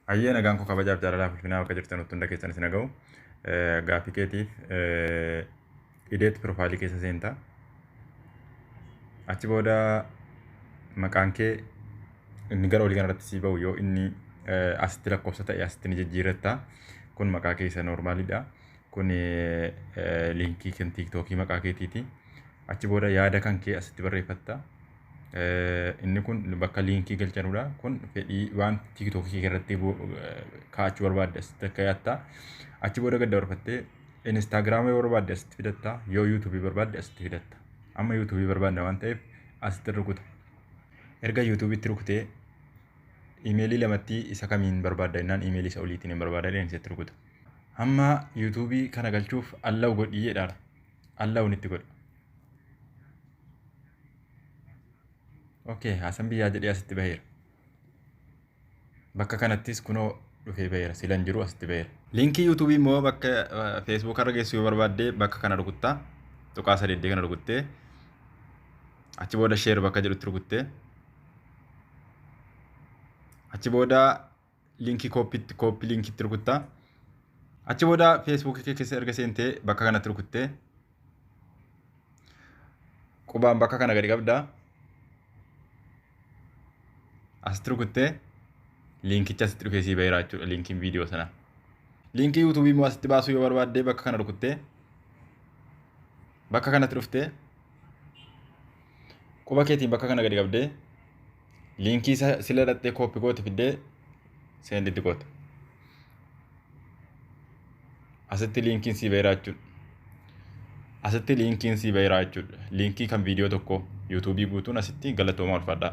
Hayyee nagaan koo kabajaaf jaalalaa fulfinaa bakka jirtan utti hunda keessan isin haga'u gaaffii keetiif ideetti piroofaayilii keessa seenta achi booda maqaan kee inni gara olii kanarratti sii ba'u yoo inni asitti lakkoofsa ta'e asitti ni jijjiirratta kun maqaa keessa noormaaliidha kun liinkii kan tiiktookii maqaa keetiiti achi booda yaada kan kee asitti barreeffatta Inni kun bakka liinkii galchanudha. Kun fedhii waan tiiktookii irratti kaa'achuu barbaadde asitti akka yaatta. Achi booda gad dabarfattee Instaagiraama yoo barbaadde asitti fidatta. Yoo yuutuubii barbaadde asitti fidatta. Amma yuutuubii barbaadna waan ta'eef asitti rukuta. Erga yuutuubiitti rukutee imeelii lamatti isa kamiin barbaadda jennaan imeelii isa oliitiin hin barbaada jedheen isatti rukuta. Amma yuutuubii kana galchuuf allaw godhii jedhaara. Allawun itti godha. Okay, haasan biyyaa jedhee asitti baheera. Bakka kanattis kunoo dhufee baheera. Silan jiru asitti baheera. Liinkii yuutuubii immoo bakka feesbuuk irra geessu yoo barbaadde bakka kana rukuttaa. Tuqaa sadeeddee kana rukuttee. Achi booda sheer bakka jedhutti rukuttee. Achi booda linkii kooppiitti kooppii linkiitti rukuttaa. Achi booda feesbuukii kee keessa erga seentee bakka kanatti rukuttee qubaan bakka kana gadi qabda. Asitti rukuttee linkicha asitti dhufee sii baheera jechuudha linkiin viidiyoo sana. Linkii yuutuubii immoo asitti baasuu yoo barbaadde bakka kana rukuttee bakka kanatti dhuftee quba keetiin bakka kana gadi qabdee Liinkii isa sila dhaxxee kooppi goote fiddee seendi itti goote. Asitti liinkiin sii bahiraa jechuudha. Asitti liinkiin sii bahiraa jechuudha. Liinkii kan viidiyoo tokkoo yuutuubii guutuun asitti galatoomaa ulfaadhaa.